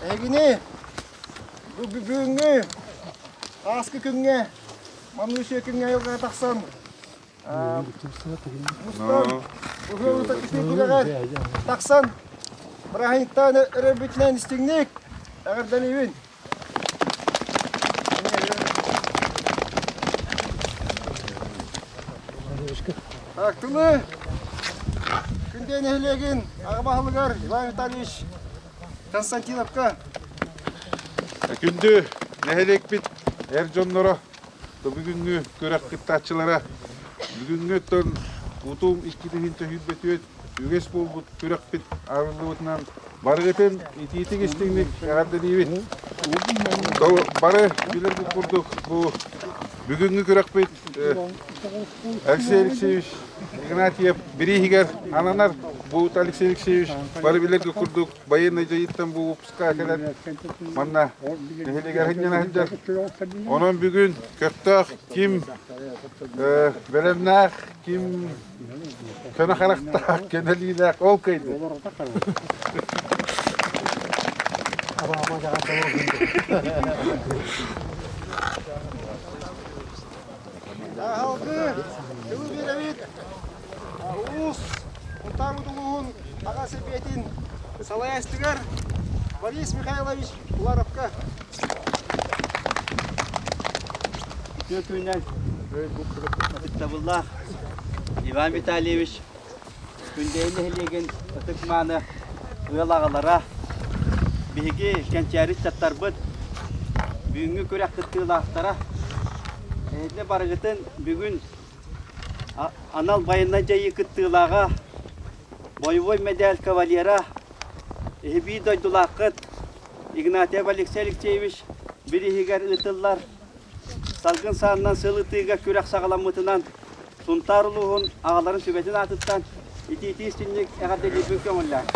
Эһигини бу бүгүҥҥү ааскы күҥҥэ маныы сүөкүҥҥэ айылҕаҕа тахсан мустан быһыылыта кытыы түгэҕэр тахсан бырааһынньыктаан өрөбүтүнэн истиҥник эҕэрдэлиибин! Актылы! Күндей нэһилиэгин ағымаһылыгар Иван Витальевич Константиновка Күндү нэһилиэкпит эр дьонноро бүгүҥҥү күрэх кыттааччылара бүгүҥҥүттэн утум иккитин төһүйбөтүөт үгэс буолбут күрэхпит арыллыбытынан барыгытын итиитик-истиҥник эҕэрдэлиибит. Бары билэрбит курдук бу бүгүҥҥү күрэхпит Алексей Алексеевич Игнатьев бирииһигэр ананар. Буут Алексей Алексеевич бары билэргэ курдук байыаннай дьайыттан бу выпуска кэлэн манна нэһилиэгэр сынньана сылдьар. Онон бүгүн көхтөөх ким бэлэмнээх, ким Көнө харахтаах, көнөлүүлээх ол кыйды. Уус Утар улууһун аҕа сэбиэтин салайаачытыгар Борис Михайлович Уваровка. Түөтүнэн. Ыстабыллаах Иван Витальевич Күндэйин нэһилиэгин ытык-мааны ыал аҕалара, биһиги кэнчээриттаттарбыт, бүгүҥҥү күрэх кыттыылаахтара, эһэтинэ барыгытын бүгүн анал байыаннай дьайыы кыттыылааҕа боевой мэдээл кавалера, иһибии дойдулааххыт Игнатьев Алексей Алексеевич бирииһигэр ыытыллар салгын саанынан сыл ытыыга күрэх саҕаламмытынан Сунтаар улууһун аҕаларын сүбэтин аатыттан итиитии-истинник эҕэрдэлиирбин көҥүллээн.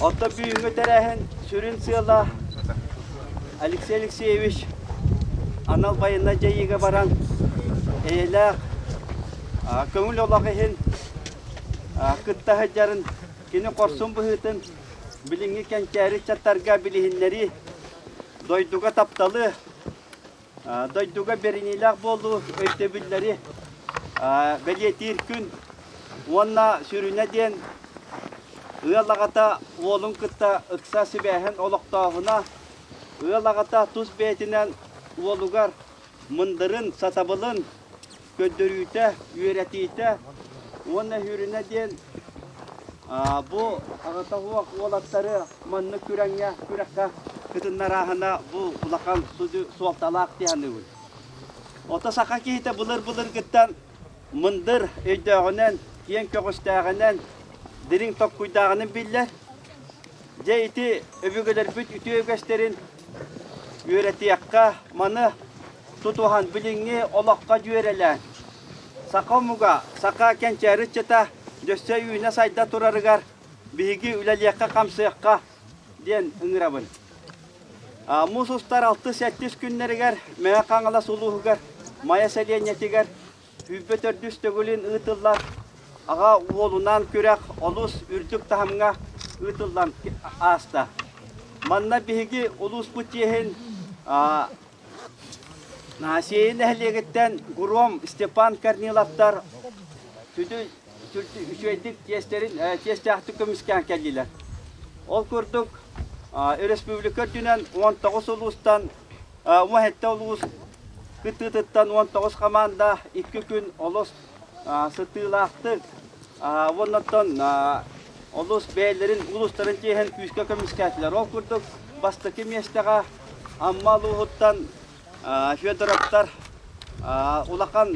Оттон бүгүҥҥү тэрээһин сүрүн сыала Алексей Алексеевич анал байыаннай дьайыыга баран эйэлээх көҥүл олох иһин кытта сылдьарын, кини хорсун быһыытын билиҥҥи кэнчээри ыччаттарга билиһиннэрии, дойдуга тапталы, дойдуга бэриниилээх буолуу өйдөбүллэри бэлиэтиир күн уонна сүрүнэ диэн ыал аҕата уолун кытта ыкса сибээһин олохтооһуна ыал аҕата тус бэйэтинэн уолугар мындырын сатабылын көрдөрүүтэ, үөрэтиитэ уонна Сүрүнэ диэн бу аҕата суох уолаттары маннык күрэҥҥэ, күрэххэ кытыннарааһына бу улахан суолталаах дии саныыбын. Ото саха киһитэ былыр-былыргыттан мындыр өйдөөҕүнэн, киэҥ көҕүстээҕинэн, дириҥ токкуйдааҕынын биллэр. Дьэ ити өбүгэлэрбит үтүө үгэстэрин үөрэтиэххэ, маны тутуһан билиҥҥи олоххо дьүөрэлээн саха омуга, саха кэнчээри ыччата өссө үүнэ-сайда турарыгар биһиги үлэлиэххэ-хамсыахха диэн ыҥырабын. Муус устар алтыс-сэттис күннэригэр Мэҥэ Хаҥалас улууһугар Майа сэлиэнньэтигэр сүүрбэ төрдүс төгүлүн ыытыллар аҕа уолунаан күрэх олус үрдүк таһымҥа ыытыллан ааста. Манна биһиги улууспут чиэһин Наасиэйи нэһилиэгиттэн Гуром Степан Корниловтар үчүгэйдик тиэстээхтик көмүскээн кэллилэр. Ол курдук өрөспүүбүлүкэ үрдүнэн 19 улуустан, ума 70 улуус кыттыытыттан 19 хамаанда икки күн олус сытыылаахтык уонна оттон олус бэйэлэрин улуустарын чиэһин күүскэ көмүскээтилэр. Ол курдук бастакы миэстэҕэ Амма улууһуттан Федоровтар улахан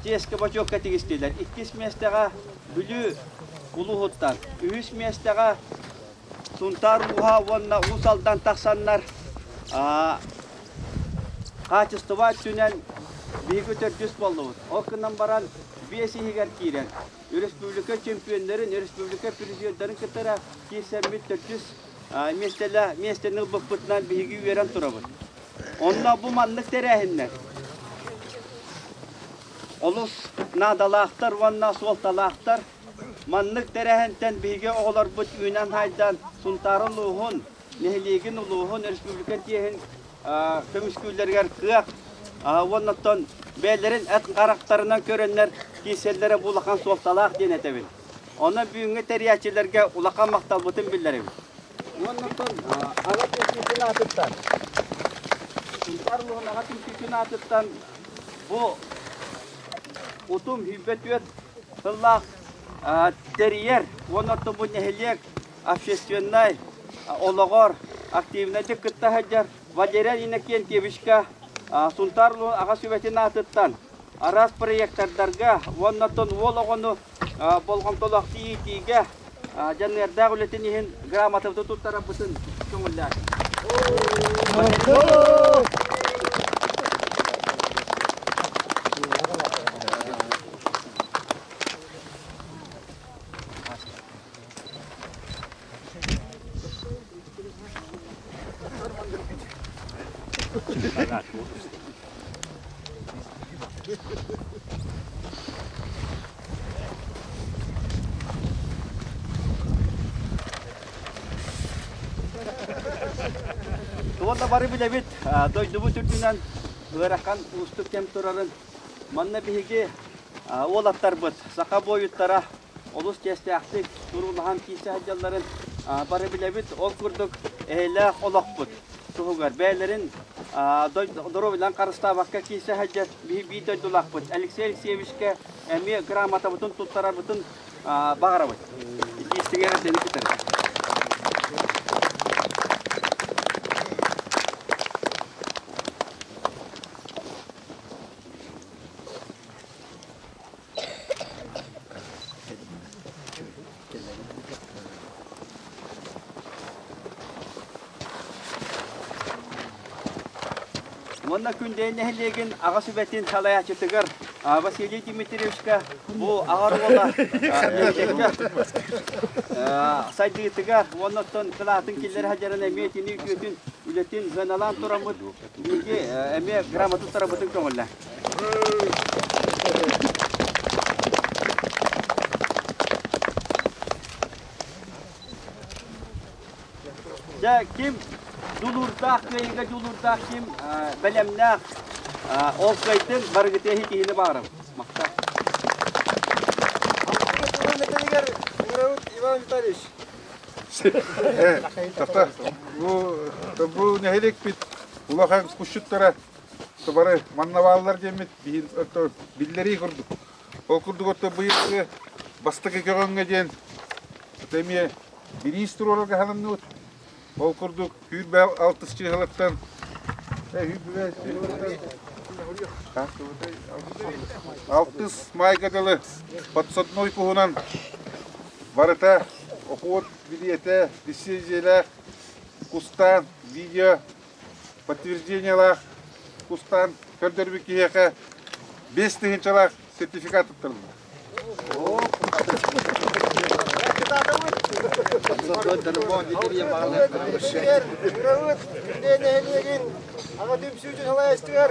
чиэскэ бочуокка тигистилэр. Иккис миэстэҕэ Бүлүү улууһуттан, үһүс миэстэҕэ Сунтаар ууһа уонна Уус Алдан тахсаннар хаачыстыба өттүнэн биһиги төрдүс буоллубут. Ол гынан баран биэс иһигэр киирэн өрөспүүбүлүкэ чөмпүйүөннэрин, өрөспүүбүлүкэ президенттэрин кытары киирсэммит төрдүс миэстэни ылбыппытынан биһиги үөрэн турабыт. Онно бу маннык тэрээһиннэр олус наадалаахтар уонна суолталаахтар. Маннык тэрээһинтэн биһиги оҕолорбут үүнэн-хаайдан Сунтаарын улууһун, нэһилиэгин улууһун, өрөспүүбүлүкэ тиэһин көмүскүүллэригэр кыах уонна оттон бэйэлэрин эт харахтарынан көрөннөр киирсэллэрэ бу улахан суолталаах диэн этэбин. Ону бүгүҥҥү тэрийээччилэргэ улахан махталбытын биллэрэбин. Уонна оттон аҕа түмсүүтүн аатыттан Сунтаар улууһун аҕа түмсүүтүн аатыттан бу Утум сүүрбэ-түөрт сыллаах тэрийэр уонна ортобут нэһилиэк общественнай олоҕор активнайдык кытта сылдьар Валерия Иннокентьевичка Сунтаар улууһун аҕа сүбэтин аатыттан араас проектардарга уонна оттон уол оҕону болҕомтолоохтук иитиигэ дьаныардаах үлэтин иһин грамотабытын туттарарбытын көҥүллээтим. Туонна бары билэбит дойдубут үрдүнэн ыарахан уустук кэм турарын. Манна биһиги уолаттарбыт саха буойуттара олус чиэстээхтик туруулаһан киирсэ сылдьалларын бары билэбит. Ол курдук, эһэлээх олохпут туһугар бэйэлэрин доруобуйаларын харыстаабакка киирсэ сылдьар биир дойдулаахпыт Алексей Алексеевичкэ эмиэ грамотабытын туттарарбытын баҕарабыт. Истиҥэҕэ сeni tutarım. Уонна Күндэй нэһилиэгин аҕа сүбэтин салайааччытыгар Василий Дмитриевичка бу аҕар уола сайдыытыгар уонна оттон кылаатын киллэрэ садьаран эмиэ тини үтүөтүн үлэтин ыаналаан тураммыт биһиги эмиэ грамота турабытын көҥүллээн Дьэ, ким дулуурдаах кыайыыга дулуурдаах ким бэлэмнээх ол кыайдын барыгытыа киһини баарым махтаа Металигар Урауд Иван Витальевич. Э, тохто, бу, бу нэһилик пит улахан кушчуттара Сыбары манна бааллар диэммит биһин ото биллэрии курдук. Ол курдук ото быйылгы бастакы көҕөҥҥө диэн ото эмиэ бириис туруора каһанымныбыт. Ол курдук күүрбэ алтыс чыыһалыттан алтыс майга дылы подсодной куһунан барыта окуот билиэтэ, диссидиэлэ, кустаан, видео подтверждениелаах кустаан көрдөрбүт киһиэхэ бес тыһыынчалаах сертификат туттарыллар. Аҕа түмсүүтүн салайыстыгар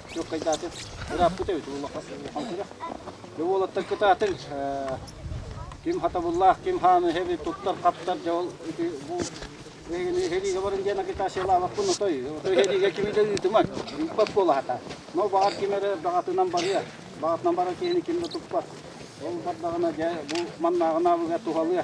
Күөккайдаатын ырааппыт эбит улахан күрэх. Бу уолаттар кытаатын ким хатабыллаах, ким хааны эбит туттар хаптар дьэ ол бу эһэлиигэ баран диэн агитациялаабаппын отой отой эһэлиигэ кими да ыытымат ыыппат буолахата но баҕар ким эрэ баҕатынан барыа баҕатынан барар киһини ким да туппат ол бардаҕына дьэ бу маннааҕын аабыга туһалыа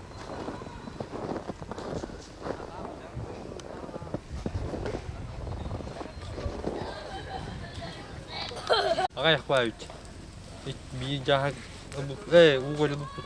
Аҕай хвають. Биир дьаһаг Эй, уголь буппут.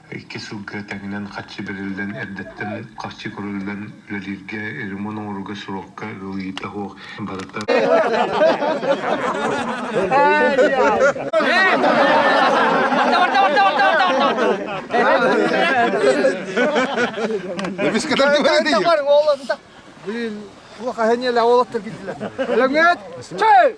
Икки сылга тэҥинэн харчы бэриллэн, эрдэттэн харчы көрүллэн, үлэлииргэ, ремонт оҥорууга, суруокка ыалыйыыта суох барыта Блин, плохо они ля олаттар китилер. Лаңет, чай!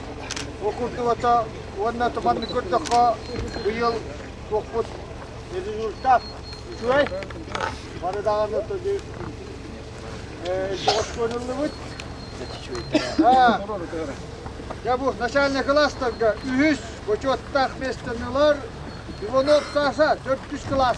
Окултуота уонна туманны көрдөххө быйыл туохпут результат үчүгэй. Бары даҕаны тоді тоҕоскуонуллубут. Дьэ бу начальник класстарга үһүс бочуоттаах миэстэнилэр Иванов Саша, 400 класс.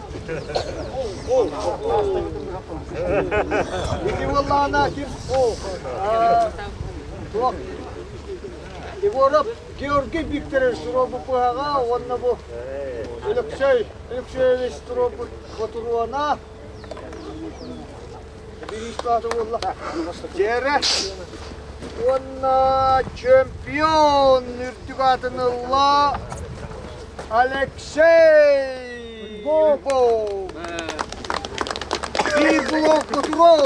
Егивалана, ким? Туох? Егоров Георгий Викторович суробу пыһаҕа уонна бу Алексей Алексеевич суробу ботуруона Дьэрэ уонна чемпион үрдүк атынылла Алексей Бобов. Фи блок контроль.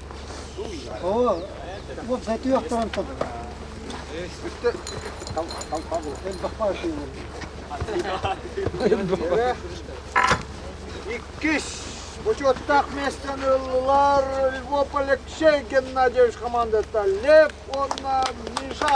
Оо, уопсай түөхтэрэн тото. Үстэ элбэхпаа тыыныр. Иккис учеттах места ылылар Львов Алексей Геннадьевич командата Лев уонна Миша.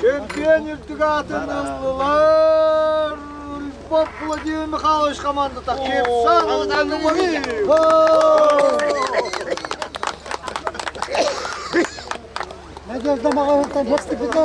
Чөмпүйүөн үрдүк аатын ылар Владимир Михайлович хамаандата Надежда Магаевтан поступите.